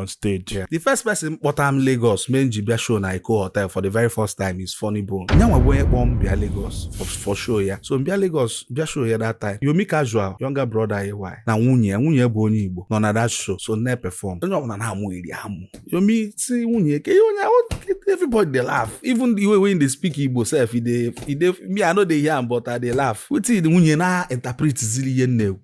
on stage. Yeah. The first person kpọtara m Lagos mee nji bịa show na Eko Hotel for the very first time is Funny Bone. Nyanwa bụ onye kpọọ m bịa Lagos for, for show ya. So m bịa Lagos bịa show ya that time. Yomi Casual, younger brother AY na nwunye nwunye bụ onye Igbo nọ na that show so na-perform. Onye ọbụla na-amụ iri amụ. Yomi si nwunye ke ihe onye everybody dey laugh even the way wey dey speak Igbo sef e dey e dey me I no dey hear am but I dey laugh. Wetin nwunye na-interpret ziri ihe nne ekwu.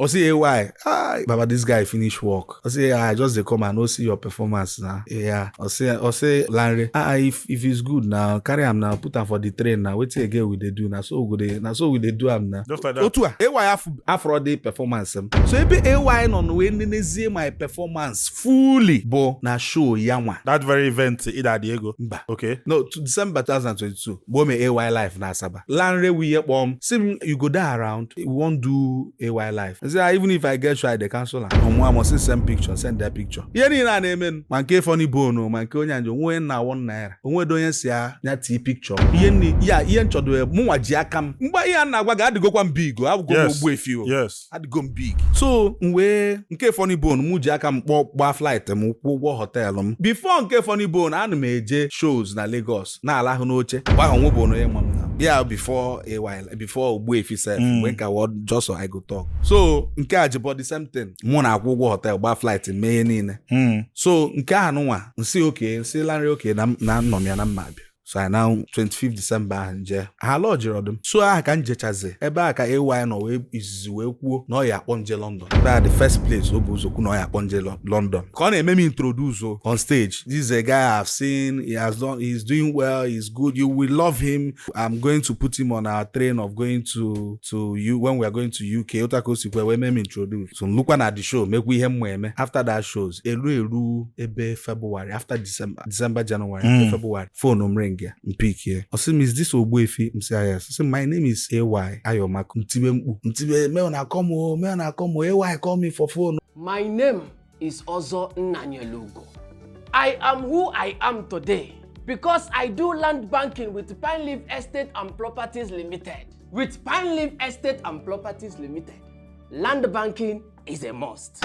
I say, hey, why? Ah, Baba, this guy finish work. I say, ah, I just they come and no see your performance now. Yeah. I say, I say, Larry, ah, if if it's good now, carry him now, put him for the train now. Wait till again we they do now. So we they now so we they do him now. Just like that. Otua, AY af afro day performance. em. So ebe AY no no we nenezie my performance fully. Bo na show yanwa. That very event, Ida Diego. Mba. Okay. No, to December 2022. Bo me AY life na Asaba. Lanre wee kpọọ m sị m you go dey around we wan do AY Live I say ah, even if I get show I dey cancel am ọ mụa amụ sị m send picture send that picture ihe niile a na-emenụ ma nke Funny Bone ma nke onye anjọ onwe na one naira onwedo onye sị ya ya tii picture ihe niile ihe nchọdo mụnwa ji aka m mgbe ihe a m na-agwa gị adịgokwa m big o abụgo m Ogbuefi o adịgo m big so m wee nke Funny Bone mụ ji aka m kpọọ gbaa flight m kwụọ ụgwọ hotel m before nke Funny Bone ana m eje shows na Lagos na-alahụ n'oche mgbe ahụ o nwebọ onye ma m na yeah before a while before Ogbuefi sef Mm. mgbe m ka wụ just so I go talk so nke Ajebo the same thing mụ na-akwụ ụgwọ hotel gbaa flight mee ihe niile so nke anụnwa m sị okay m sị Lanre okay na m- na nnọ m ya na m ma abịa so anyị na 25 December ahụ m jee ha lodgerọdụ m so aha ka m jechazi ebe a ka AY nọ wee izizi wee kwuo na ọ ya akpọ m je London ebe a the first place o bu ụzọ kwuo na ọ ya akpọ m je London ka ọ na-eme m introduce o on stage this is a guy I have seen he has done he is doing well he is good you will love him I'm going to put him on our train of going to to you when we are going to UK otu a ka o sikwa wee mee m introduce so m lukwa na the show mekwa ihe m ma eme after that shows elu elu ebe February after December December January mm. February fonu m ring ya mpikie ọ sị m is this Ogbuefi m si ayas sị my name is AY Ayomaku mtibe mkpu mtibe meo na akọ m meo na akọ m AY call me for phone my name is Ozo Nnanyelugo I am who I am today because I do land banking with Pine Leaf Estate and Properties Limited with Pine Leaf Estate and Properties Limited land banking is a must.